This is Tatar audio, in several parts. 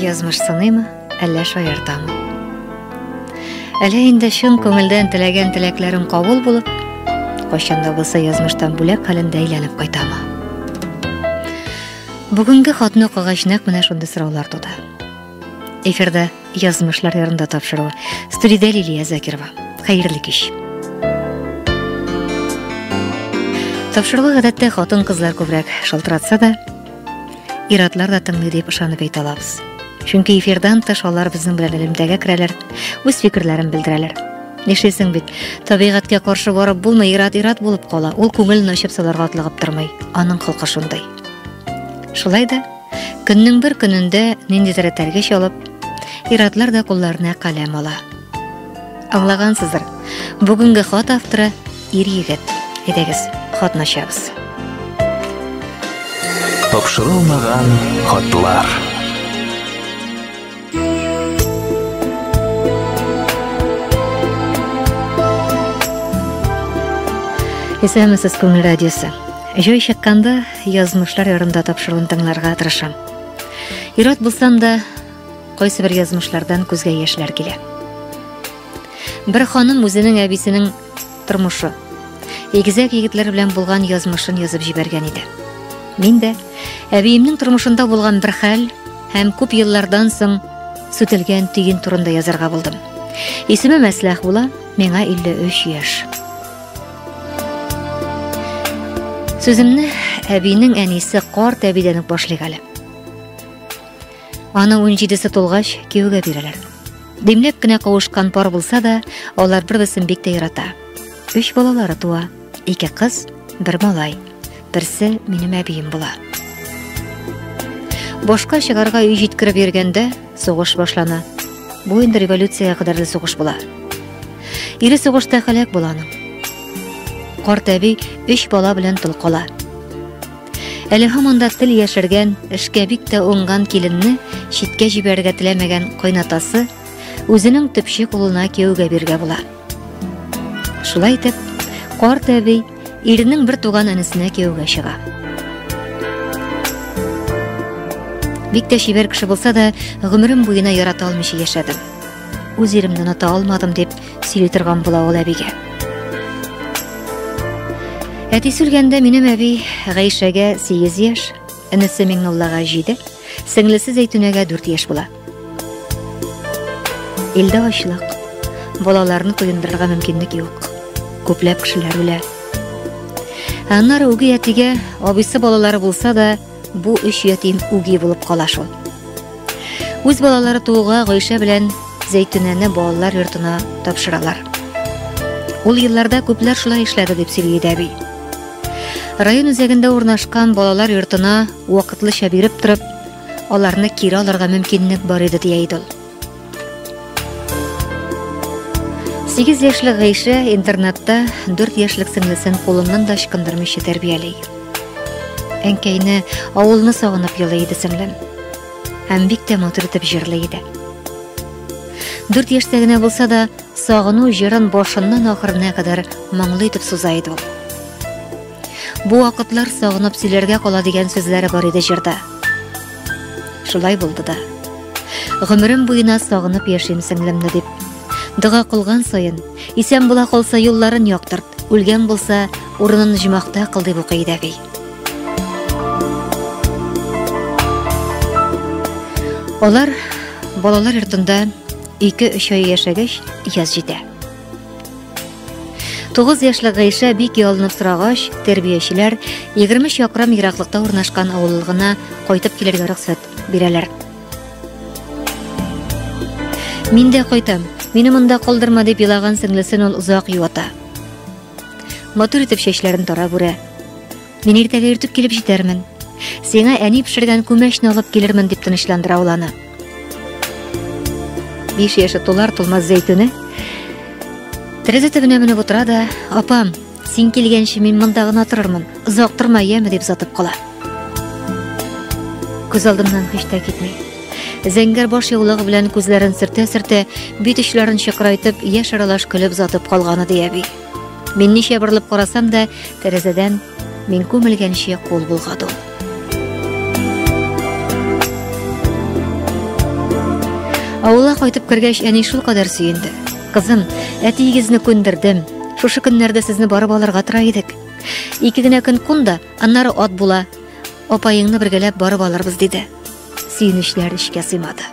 Язмыш сыныймы, әллә шаяртамы? Әле инде чын күңелдән теләгән теләкләрем кабул булып, кайчан да булса язмыштан бүләк хәлендә әйләнеп кайтамы? Бүгенге хатны укыгач нәкъ менә шундый сораулар туды. Эфирда язмышлар ярында тапшыру. Студиядә Лилия Закирова. Хәерле кич. Тапшыру гадәттә хатын-кызлар күбрәк шалтыратса да, иратлар да тыңлый дип ышанып әйтә алабыз. Чөнки эфирдан тыш алар безнең белән элемтәгә керәләр, үз фикерләрен белдерәләр. Нишлисең бит, табигатькә каршы барып булмый, ират-ират булып кала. Ул күңелен ачып саларга атлыгып тормый. Аның холкы шундай. Шулай да Көннең бер көнендә ниндидер этәргеч алып, иратлар да кулларына каләм ала. Аңлагансыздыр, бүгенге хат авторы ир егет. Әйдәгез, хатны ачабыз. Тапшырылмаган хатлар. Исәнмесез, күңел радиосы. Җой чыкканда язмышлар ярында тапшыруын тыңларга тырышам. Ират булсам да, кайсы бер язмышлардан күзгә яшьләр килә. Бер ханым үзенең әбисенең тормышы, егезәк егетләр белән булган язмышын язып җибәргән иде. Мин дә әбиемнең тормышында булган бер хәл һәм күп еллардан соң сүтелгән төен турында язарга булдым. Исеме Мәсләх була, миңа 53 яшь. Сүземне әбинең әнисе карт әбидән үк башлыйк әле. Аны 17-се тулгач кияүгә бирәләр. Димләп кенә кавышкан пар булса да, алар бер-берсен бик тә ярата. Өч балалары туа, ике кыз, бер малай. Берсе минем әбием була. Башка чыгарга өй җиткереп йөргәндә сугыш башлана. Бу инде революциягә кадәрле сугыш була. Ире сугышта халәк була аның. Карт әби өч бала белән тол кала. Әле һаманда тел яшергән, эшкә бик тә уңган киленне читкә җибәрергә теләмәгән кайнатасы үзенең төпче кулына кияүгә биргә була. Шулай итеп, карт әби Иренең бер туган энесенә кияүгә чыга. Бик тә чибәр кеше булса да, гомерем буена ярата алмыйча яшәдем. Үз иремне оныта алмадым дип сөйли торган була ул әбигә. Әти сүлгәндә минем әби Гайшәгә 8 яшь, энесе Миңнуллага 7, сеңлесе Зәйтүнәгә 4 яшь була. Илдә ачлык, балаларны коендырырга мөмкинлек юк. Күпләп кешеләр үлә. Аннары үги әтигә абыйсы балалары булса да, бу өч ятим үги булып кала шул. Үз балалары тууга Гайшә белән Зәйтүнәне балалар йортына тапшыралар. Ул елларда күпләр шулай эшләде дип сөйли дәби. Район үзәгендә урнашкан балалар йортына вакытлыча биреп торып, аларны кире алырга мөмкинлек бар иде, ди Айдол. 8 яшьлек Гайшә интернатта 4 яшьлек сеңлесен кулыннан да ычкындырмыйча тәрбияли. Әнкәйне, авылны сагынып елый иде сеңлем. Һәм бик тә матур итеп җырлый иде. 4 яшьтә генә булса да, сагыну җырын башыннан ахырына кадәр моңлы итеп суза иде ул. Бу вакытлар сагынып сөйләргә кала дигән сүзләре бар иде җырда. Шулай булды да. Гомерем буена сагынып яшим сеңлемне дип. Дога кылган саен, исән була калса юлларын яктырт, үлгән булса, урынын җимахта кыл дип укый иде әби. Алар балалар йортында ике-өч ай яшәгәч, яз җитә. Тугыз яшьле Гайшә бик ялынып сорагач, тәрбиячеләр 23 якрам ераклыкта урнашкан авыллыгына кайтып килергә рөхсәт бирәләр. Мин дә кайтам. Мине монда калдырма дип елаган сеңлесен ул озак юата. Матур итеп чәчләрен тарап үрә. Мин иртәгә иртүк килеп җитәрмен. Сиңа әни пешергән күмәчне алып килермен, дип тынычландыра ул аны. Биш яше тулар тулмас зәйтүне тәрәзә төбенә менеп утыра да, апам, син килгәнче мин монда гына торырмын, озак торма, яме, дип сатып кала. Күз алдымнан һич тә китми. Зәңгәр баш яулыгы белән күзләрен сөртә-сөртә, бит очларын чыкрайтып, яшь аралаш көлеп затып калганы дияби. Мин ничә борылып карасам да, тәрәзәдән мин күмелгәнче кул булгаду. Авылга кайтып кергәч, әни шул кадәр сөенде. Кызым, әтиегезне күндердем. Шушы көннәрдә сезне барып алырга тора идек. Ике генә көн кун да, аннары ат була. Апаеңны бергәләп барып алырбыз, диде. Сөенечләр эчкә сыймады.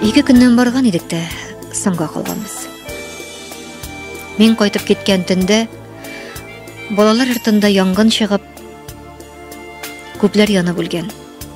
Ике көннән барган идек тә, соңга калганбыз. Мин кайтып киткән төндә балалар артында янгын чыгып, күпләр янып үлгән.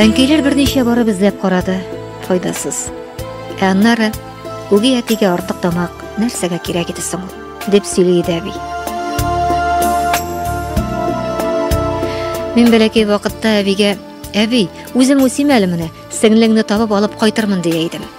Әнкәйләр берничә барып эзләп карады, файдасыз. Ә аннары үги әтигә артык тамак нәрсәгә кирәк иде соң ул, дип сөйли иде әби. Мин бәләкәй вакытта әбигә, әби, үзем үсим әле менә, сеңлеңне табып алып кайтырмын дия идем.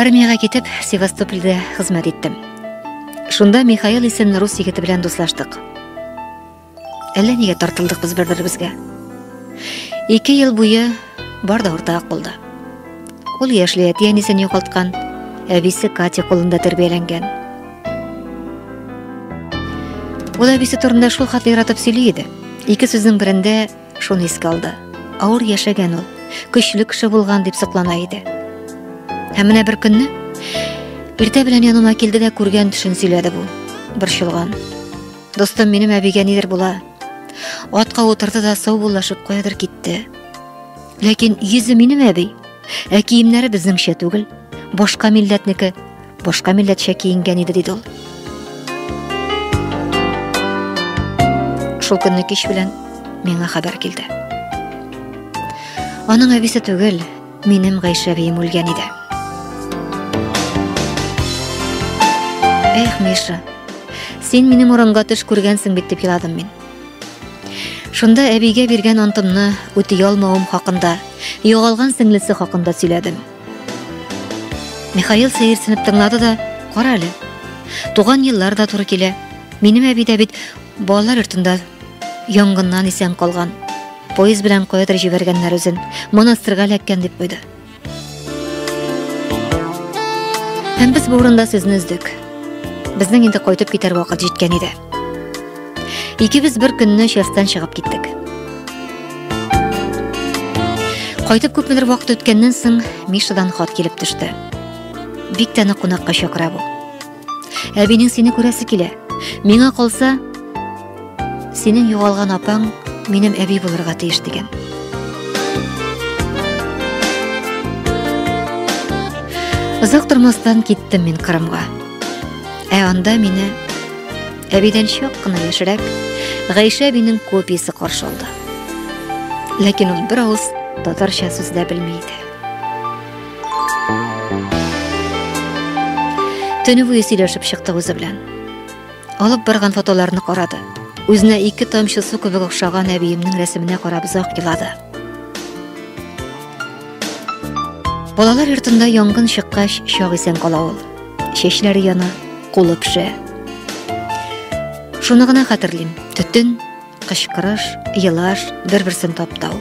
Армиягә китеп, Севастопольдә хезмәт иттем. Шунда Михаил исемле рус егете белән дуслаштык. Әллә нигә тартылдык без бер-беребезгә. Ике ел буе бар да уртак булды. Ул яшьли әти әнисен югалткан, әбисе Катя кулында тәрбияләнгән. Ул әбисе турында шул хәтле яратып сөйли иде. Ике сүзнең берендә Шуны искә алды. Авыр яшәгән ул, көчле кеше булган дип соклана иде. Һәм менә бер көнне иртә белән яныма килде дә күргән төшен сөйләде бу. Борчылган. Достым минем әбигә нидер була. Атка утырды да сау буллашып каядыр китте. Ләкин йөзе минем әби, ә киемнәре безнеңчә түгел, башка милләтнеке. башка милләтчә киенгән иде, диде ул. Шул көнне кич белән миңа хәбәр килде. Аның әбисе түгел, минем Гайшә бием үлгән иде. Эх, Миша, син минем урынга төш күргәнсең бит дип еладым мин. Шунда әбигә биргән антымны үти алмавым хакында, югалган сеңлесе хакында сөйләдем. Михаил сәерсенеп тыңлады да, кара әле. Туган еллар да туры килә. Минем әби дә бит балалар йортында янгыннан исән калган. Поезд белән каядыр җибәргәннәр үзен. Монастырьга эләккән дип куйды. Һәм без бу урында сезне өздек. Безнең инде кайтып китәр вакыт җиткән иде. Икебез бер көнне частьтан чыгып киттек. Кайтып күпмедер вакыт үткәннән соң Мишадан хат килеп төште. Бик тә нык кунакка чакыра бу. Әбинең сине күрәсе килә. Миңа калса, синең югалган апаң минем әби булырга тиеш дигән. Озак тормастан киттем мин Кырымга. Ә анда мине Әбидән чак кына яшерәк Гайшә әбинең копиясе каршы алды. Ләкин ул бер авыз татарча сүз дә белми иде. Төне буе сөйләшеп чыкты үзе белән. Алып барган фотоларны карады. Үзенә ике тамчы су кебек охшаган әбиемнең рәсеменә карап озак елады. Балалар йортында янгын чыккач, чак исән кала ул. Чәчләре яна, кулы пешә. Шуны гына хәтерлим. Төтен, кычкырыш, елаш, бер-берсен таптау.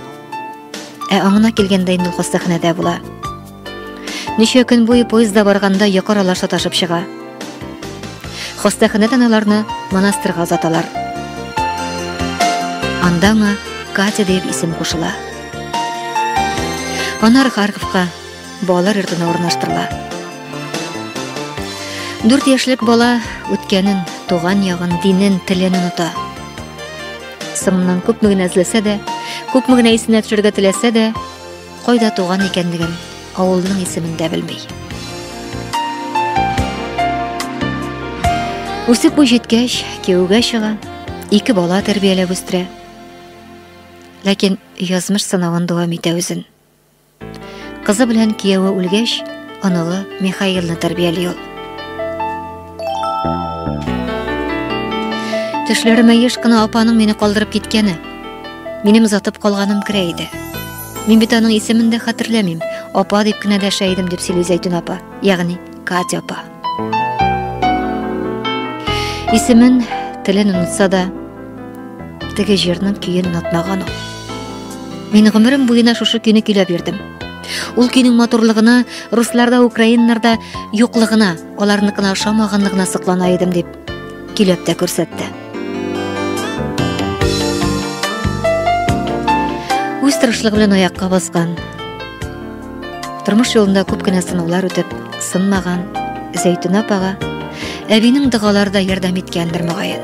Ә аңына килгәндә инде хастаханәдә була. Ничә көн буе поездда барганда йокы аралаш саташып чыга. Хастаханәдән аларны монастырьга озаталар. Анда аңа Катя дип исем кушыла. Анар Харьковка Балалар йортына урнаштырыла. Дүрт яшьлек бала үткәнен, туган ягын, динен, телен оныта. Сымнан күпме генә эзләсә дә, күпме генә исенә төшерергә теләсә дә, кайда туган икәнлеген, авылның исемен дә белми. Үсеп буй җиткәч, кияүгә чыга, ике бала тәрбияләп үстерә. Ләкин язмыш сынавын дәвам итә үзен. Кызы белән кияүе үлгәч, оныгы Михаилны тәрбияли ул. Төшләремә еш кына апаның мине калдырып киткәне. Минем затып калганым керә иде. Мин бит аның исемен дә хәтерләмим. Апа дип кенә дәшә идем, дип сөйли Зәйтүн апа, ягъни Катя апа. Исемен, телен онытса да, теге җырның көен онытмаган ул. Мин гомерем буена шушы көйне көйләп йөрдем. Ул көйнең матурлыгына, русларда, украиннарда юклыгына, аларныкына ошамаганлыгына соклана идем дип көйләп тә күрсәтте. Үз тырышлыгы белән аякка баскан, Тормыш юлында күп кенә сынаулар үтеп, сынмаган Зәйтүнә апага әбинең дәгалары да ярдәм иткәндер мөгаен.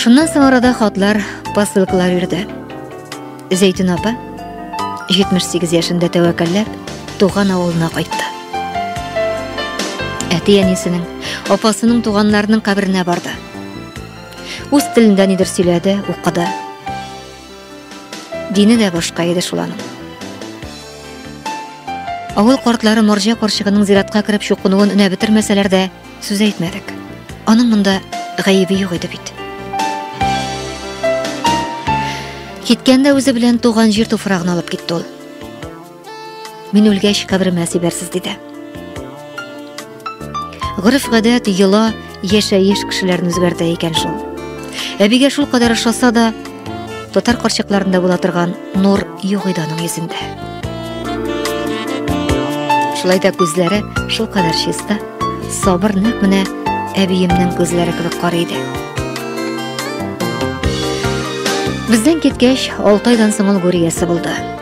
Шуннан соң арада хатлар, посылкалар йөрде. Зәйтүн апа 78 яшендә тәвәккәлләп туган авылына кайтты. Әти-әнисенең, апасының туганнарының каберенә барды. Үз телендә нидер сөйләде, укыды. Дине дә башка иде шул аның. Авыл картлары Марҗа карчыгының зиратка кереп чукынуын өнә бетермәсәләр дә, сүз әйтмәдек. Аның монда гаебе юк иде бит. Киткәндә үзе белән туган җир туфрагын алып китте ул. Мин үлгәч, каберемә сибәрсез, диде. Гореф-гадәт, йола, яшәеш кешеләрне үзгәртә икән шул. Әбигә шул кадәр ошаса да, татар карчыкларында була торган нур юк иде аның йөзендә. Шулай да күзләре шул кадәр чиста, сабыр нәкъ менә әбиемнең күзләре кебек карый иде. Бездән киткәч, 6 айдан соң ул гүриясе булды.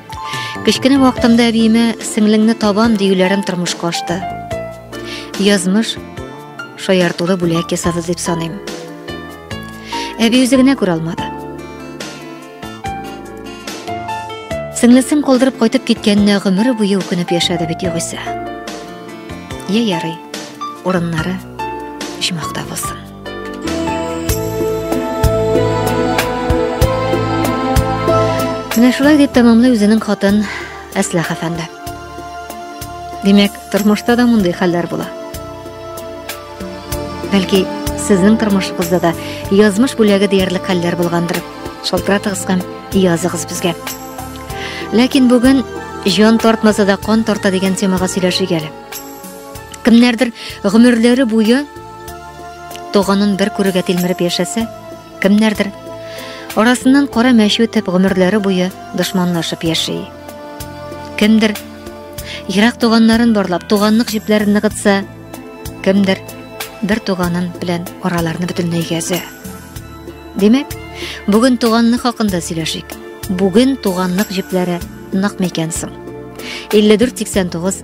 Кечкенә вакытымда әбиемә сеңлеңне табам диюләрем тормышка ашты. Язмыш шаяртулы бүләк ясады дип саныйм. Әби үзе генә күрә алмады. Сеңлесен калдырып кайтып киткәненә гомере буе үкенеп яшәде бит югыйсә. Йә ярый, урыннары почмакта булсын. Менә шулай дип тәмамлый үзенең хатын Әсләх әфәнде. Димәк, тормышта да мондый хәлләр була. Бәлки, сезнең тормышыгызда да язмыш бүләге диярлек хәлләр булгандыр. Шалтыратыгыз һәм языгыз безгә. Ләкин бүген җан тартмаса да кан тарта дигән темага сөйләшик әле. Кемнәрдер гомерләре буе Туганын бер күрергә тилмереп яшәсә, кемнәрдер арасыннан кара мәче үтеп гомерләре буе дошманлашып яши. Кемдер ерак туганнарын барлап туганлык җепләрен ныгытса, кемдер бер туганын белән араларны бөтенләй гәзә. Димәк, бүген туганлык хакында сөйләшик. Бүген туганлык җепләре нык микән соң? 5489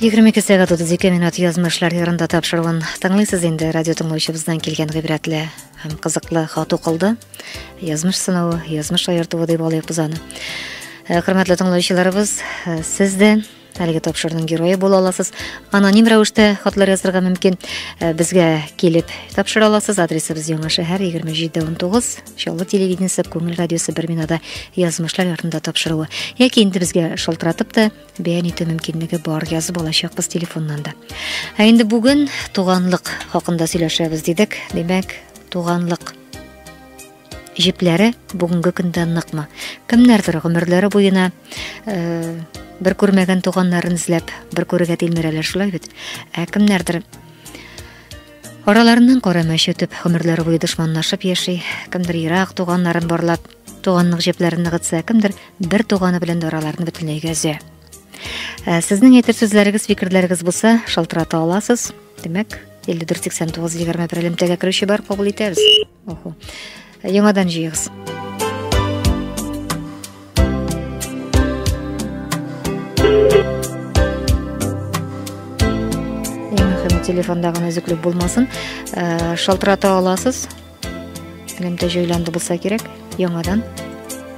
Егерме ике сәгать утыз ике минут язмышлар ярында тапшыруын тыңлыйсыз инде радио тыңлаучыбыздан килгән гыйбрәтле һәм кызыклы хат укылды. Язмыш сынавы, язмыш аертуы дип алыйк без аны. Хөрмәтле тыңлаучыларыбыз, сез дә Әлеге тапшырның герое була аласыз. Аноним рәвештә хатлар язырга мөмкин. Э, безгә килеп тапшыра аласыз. Адресыбыз Яңа шәһәр 2719, Чаллы телевидениесе Күңел радиосы бер бинада язмышлар ярдында тапшыруы. Яки инде безгә шалтыратып та бәян итү мөмкинлеге бар язып алачакбыз телефоннан да. Ә инде бүген туганлык хакында сөйләшәбез дидек. Димәк, туганлык Җепләре бүгенге көндә ныкмы? Кемнәрдер гомерләре буена э, бер күрмәгән туганнарын эзләп, бер күрергә тилмерәләр шулай бит. Ә кемнәрдер араларыннан кара мәш үтеп, гомерләре буе дошманлашып яши, кемдер ерак туганнарын барлап, туганлык җепләрен ныгытса, кемдер бер туганы белән дә араларны бөтенләйгә өзә. Ә сезнең әйтер сүзләрегез, фикерләрегез булса, шалтырата аласыз. Димәк, 5489 егерме бер элемтәгә керүче бар, кабул итәбез. Охо. Яңадан җыегыз. телефонда гына өзеклек булмасын э, шалтырата аласыз элемтә җайланды булса кирәк яңадан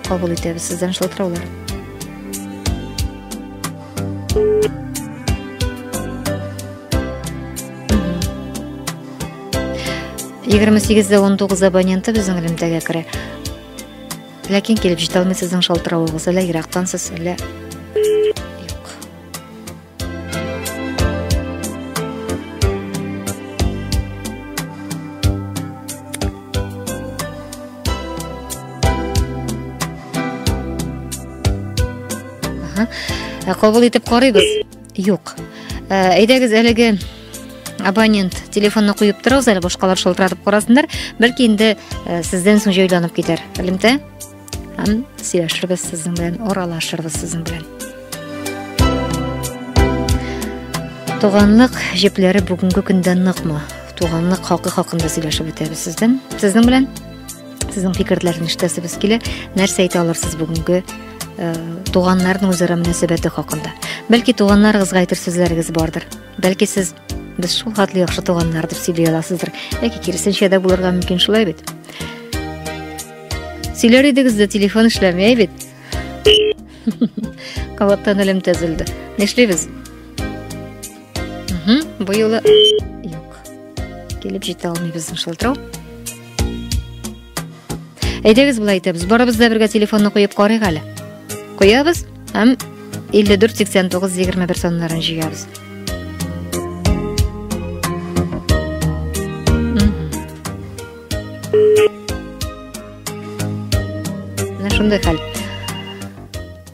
кабул итәбез сездән шалтыраулар егерме сигездә он тугыз абоненты безнең элемтәгә керә ләкин килеп җитә алмый сезнең шалтыравыгыз әллә ерактансыз әллә юк ә кабул итеп карыйбыз Юк. Э, әйдәгез әлеге абонент телефонны куеп торыгыз әле башкалар шылтыратып карасыннар бәлки инде э, сездән соң җайланып китәр элемтә һәм сөйләшербез сезнең белән аралашырбыз сезнең белән туганлык җепләре бүгенге көндә ныкмы туганлык хакы хакында сөйләшеп үтәбез сездән сезнең белән Сезнең фикерләрне ишетәсебез килә. Нәрсә әйтә алырсыз бүгенге э, туганнарның үзара мөнәсәбәте хакында? Бәлки туганнарыгызга әйтер сүзләрегез бардыр. Бәлки сез без шул хәтле яхшы туганнар дип сөйли аласыздыр. Яки киресенчә дә булырга мөмкин шулай бит. Сөйләр идегез дә телефон эшләмәй бит. Кабаттан әлем тәзелде. Нишлибез? Угу, бу юлы юк. Килеп җитә алмыйбыз шылтырау. Әйдәгез болай итәбез. Барыбыз да бергә телефонны куеп карыйк әле. Куябыз һәм 548921 саннарын җыябыз. Шундый хәл.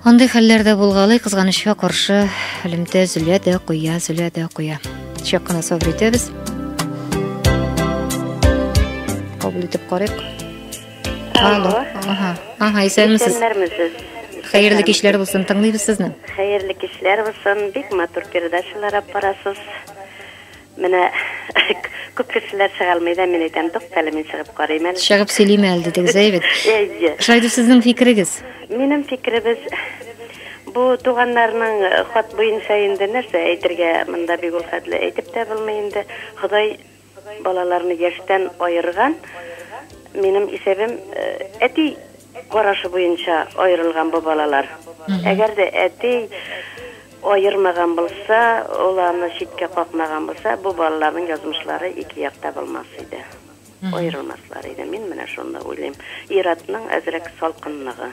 Андый хәлләр дә булгалый, кызганычка каршы, элемтә зөлә дә куя, зөлә дә куя. Чак кына сабыр итәбез. Кабул итеп карыйк. Алло. Ага, ага, исәнмесез. Исәнмесез. Хәерле кичләр булсын, тыңлыйбыз сезне. Хәерле кичләр булсын. Бик матур передачалар алып барасыз. Менә күп кешеләр чыга алмый да, мин әйтәм, туктале, мин чыгып карыйм әле. Чыгып сөйлим әле дидегез, әй бит. Әйе. Шулай дип сезнең фикерегез? Минем фикеребез бу туганнарның э, хат буенча инде нәрсә әйтергә монда бик ул хәтле әйтеп тә булмый инде. Ходай балаларны яшьтән аерган. Минем исәбем э, әти карашы буенча аерылган бу балалар. Әгәр дә әти аермаган булса, ул аны читкә какмаган булса, бу балаларның язмышлары ике якта булмас иде. Аерылмаслар иде. Мин менә шуны уйлыйм. Ир-атның әзрәк салкынлыгы.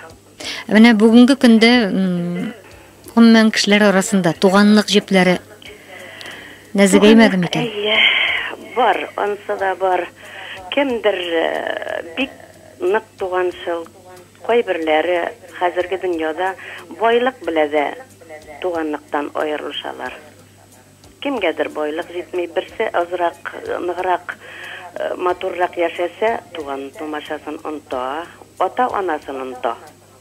Ә менә бүгенге көндә гомумән кешеләр арасында туганлык җепләре нәзегәймәде микән? Әйе, бар, ансы да бар. Кемдер бик Нык туганчыл, кайберләре хәзерге дөньяда байлык белә дә туганлыктан аерылышалар. Кемгәдер байлык җитми, берсе азрак, ныграк, матуррак яшәсә, туган-тумачасын оныта, ата-анасын оныта,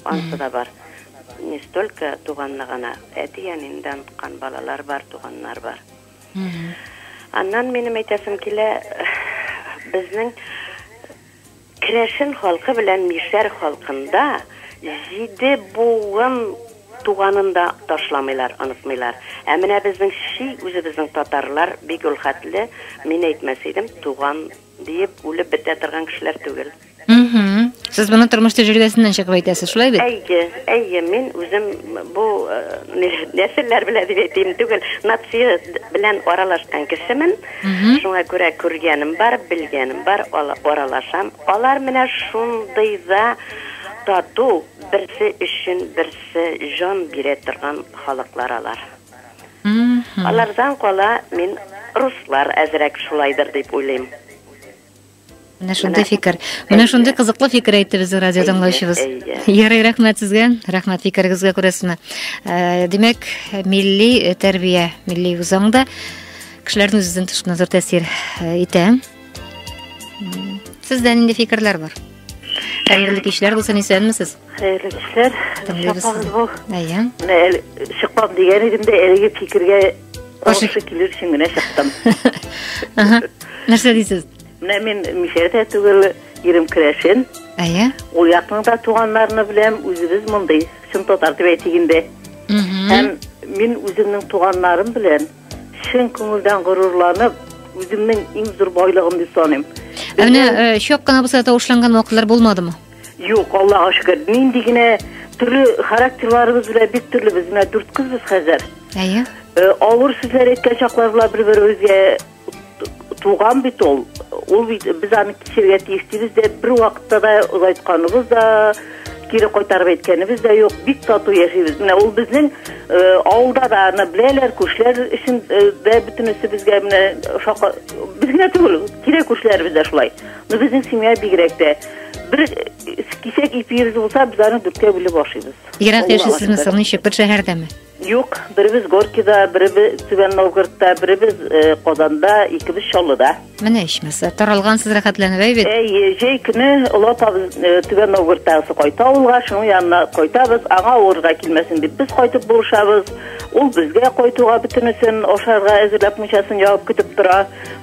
ансы да бар. Не столько туганны гына, әти-әнине дә оныткан балалар бар, туганнар бар. Аннан минем әйтәсем килә, безнең, Керәшен халкы белән мишәр халкында җиде буын туганын да ташламыйлар, онытмыйлар. Ә менә безнең чи үзебезнең татарлар бик ул хәтле, мин әйтмәс идем, туган диеп үлеп бетә торган кешеләр түгел. Мхм. Сез моны тормыш тәҗрибәсеннән чыгып әйтәсез, шулай бит? Әйе, әйе, мин үзем бу нәселләр белән дип әйтим түгел, нация белән аралашкан кешемен. Шуңа күрә күргәнем бар, белгәнем бар, аралашам. Алар менә шундый да тату, берсе өчен берсе җан бирә торган халыклар алар. Алардан кала мин руслар әзрәк шулайдыр дип уйлыйм. Менә шундый фикер. Менә шундый кызыклы фикер әйтте безнең радио тыңлаучыбыз. Ярый, рәхмәт сезгә. Рәхмәт фикерегезгә күрәсезме. Э, димәк, милли э, тәрбия, милли үзаң да кешеләрнең үзен тышына зур тәэсир э, итә. Сездә нинди фикерләр бар? Хәерле кичләр булсын, исәнмесез. Хәерле кичләр. Тыңлыйбыз. Әйе. Чыкмам дигән идем дә, әлеге фикергә Тагын ши килер өчен генә чыктым. Ага. Нәрсә дисез? Менә мин мишәр дә түгел, ирем керәшен. Әйе. Ул якның да туганнарны беләм, үзебез мондый, чын татар дип әйтик инде. Һәм мин үземнең туганнарым белән чын күңелдән горурланып, үземнең иң зур байлыгым дип саныйм. Ә менә чак кына булса тавышланган вакытлар булмадымы? Юк, Аллага шөкер. Нинди генә төрле характерларыбыз белән бик төрле без менә дүрт кызбыз хәзер. Әйе. Э, авыр сүзләр әйткән чаклар була бер-беребезгә туган бит ул. Ул бит без аны кичерергә тиеш дибез дә бер вакытта да озайтканыбыз да кире кайтарып әйткәнебез дә юк. Бик тату яшибез. Менә ул безнең э, авылда да аны беләләр, күршеләр өчен э, дә бөтенесе безгә менә шака без генә түгел, тирә күршеләребез дә шулай. Ну, безнең семья бигрәк тә. Бер кисәк ипи йөз булса, без аны дүрткә бүлеп ашыйбыз. Ерак яшисезме соң, ничек, бер шәһәрдәме? Юк, беребез Горкида, беребез Түбән Новгородта, беребез э, Казанда, икебез Чаллыда. Менә ичмаса, таралгансыз рәхәтләнеп әйбит. Әйе, җәй көне олы апабыз э, Түбән Новгородтагысы кайта авылга, шуның янына кайтабыз, аңа авырга килмәсен дип без кайтып булышабыз. Ул безгә кайтуга бөтенесен ашарга әзерләп мунчасын ябып көтеп тора.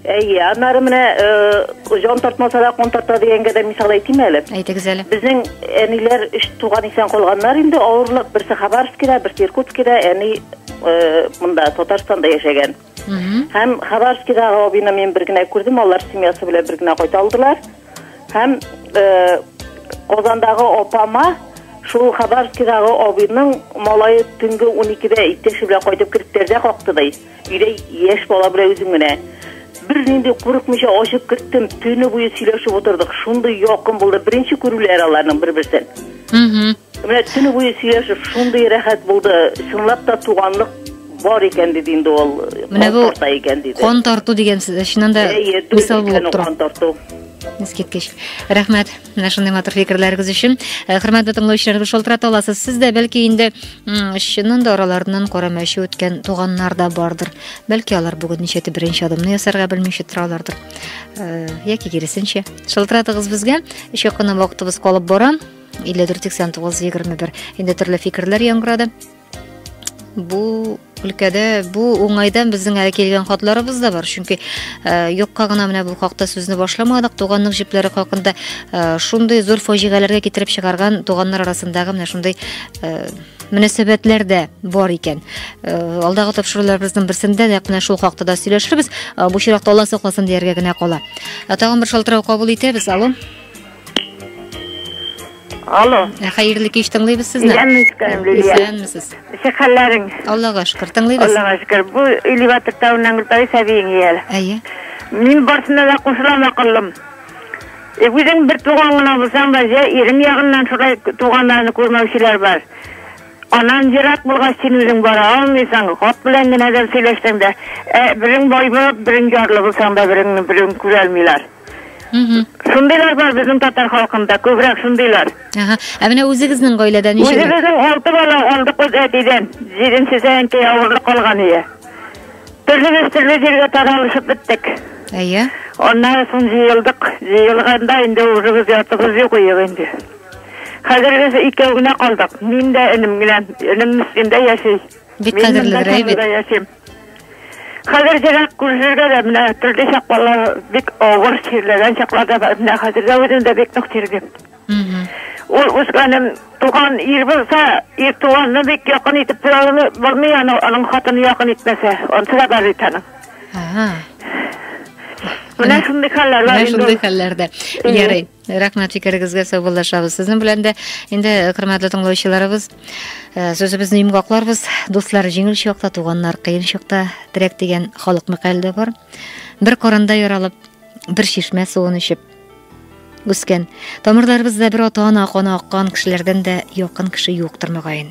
Әйе, аннары менә э, җан тартмаса да кон тарта дигәнгә дә мисал әйтим әле. Әйтегез әле. Безнең әниләр өч туган исән калганнар инде, авырлык берсе Хабаровскида, берсе Иркутскида, әни э, монда Татарстанда яшәгән. Һәм Хабаровскидагы абыйны мин бер генә күрдем, алар семьясы белән бер генә кайта алдылар. Һәм э, Казандагы апама шул Хабаровскидагы абыйның малае төнге 12-дә иптәше белән кайтып кереп тәрәзә какты ди. Өйдә яшь бала белән үзем генә. Бернинди курыкмыйча ачып керттем, төне буе сөйләшеп утырдык. Шундый якын булды, беренче күрүләр аларның бер-берсен. Менә төне буе сөйләшеп, шундый рәхәт булды. Чынлап та туганлык бар икән диде инде ул. Менә бу тарта икән диде. Кон тарту дигән сүз, чыннан да мисал булып тора. Кон тарту. Искиткеч. Рәхмәт. Менә шундый матур фикерләрегез өчен. Хөрмәтле тыңлаучылар, шалтырата аласыз. Сез дә бәлки инде Чыннан да араларыннан кара мәче үткән туганнар да бардыр. Бәлки алар бүген ничәтә беренче адымны ясарга белмичә торалардыр. Э, яки киресенчә. Шылтыратыгыз безгә. Эш якына вакытыбыз калып бара. 54 89 21. Инде төрле фикерләр яңгырады. Бу Өлкәдә бу уңайдан безнең әле килгән хатларыбыз да бар, чөнки э, юкка гына менә бу хакта сүзне башламадык. Туганның җепләре хакында э, шундый зур фаҗигаләргә китереп чыгарган туганнар арасындагы менә шундый э, мөнәсәбәтләр дә бар икән. Алдагы тапшыруларыбызның берсендә дә менә шул хакта да сөйләшербез. Бу чиракта Алла сакласын дияргә генә кала. Тагын бер шалтырау кабул итәбез. Алло. Алло. Ә хәерле кич тыңлыйбыз сезне. Исәнмесез, Лилия. Исәнмесез. Ничек хәлләрең? Аллага шөкер, тыңлыйбыз. Аллага шөкер. Бу Илива Тыртавыннан Гөлпәри Сәбиең иял. Әйе. Мин барсына да кушылам акыллым. Э, үзең бер туган гына булсаң да, җә ирең ягыннан шулай туганнарны күрмәүчеләр бар. Анан ерак булгач син үзең бара алмыйсың, хат белән генә дә сөйләшсәң дә, ә, берең бай булып, берең ярлы булсаң да, береңне берең күрә алмыйлар. Шундыйлар бар безнең татар халкында, күбрәк шундыйлар. Ага. Ә менә үзегезнең гаиләдә ничә? Үзебезнең алты бала калдык без әтидән. Җиденчесе әнкәй авырлык калган иде. Төрлебез төрле җиргә таралышып беттек. Әйе. Аннан соң җыелдык. Җыелганда инде үзебез ятыбыз юк иек инде. Хәзер без икәү генә калдык. Мин дә энем генә. Энем Мискендә яши. Бик кадерле бер әйбит. Хәзер җырак күрергә дә менә төрле чаклар бик авыр чирләгән чаклар да бар. Менә хәзер дә үзем дә бик нык чирдем. Ул үскәнем туган ир булса, ир туганны бик якын итеп тора булмый аны, аның хатыны якын итмәсә, онсы да бар бит аның. Менә шундый хәлләр бар. Менә шундый хәлләрдә. Ярый. Рәхмәт фикерегезгә саубуллашабыз. Сезнең белән дә инде э, хөрмәтле тыңлаучыларыбыз э, сүзебезне йомгакларбыз. Дуслар, җиңел чакта туганнар, кыен чакта терәк дигән халык мәкале дә бар. Бер корында яралып, бер чишмә суын эчеп үскән. Тамырларыбызда бер ата-ана каны аккан кешеләрдән дә якын кеше юктыр мөгаен.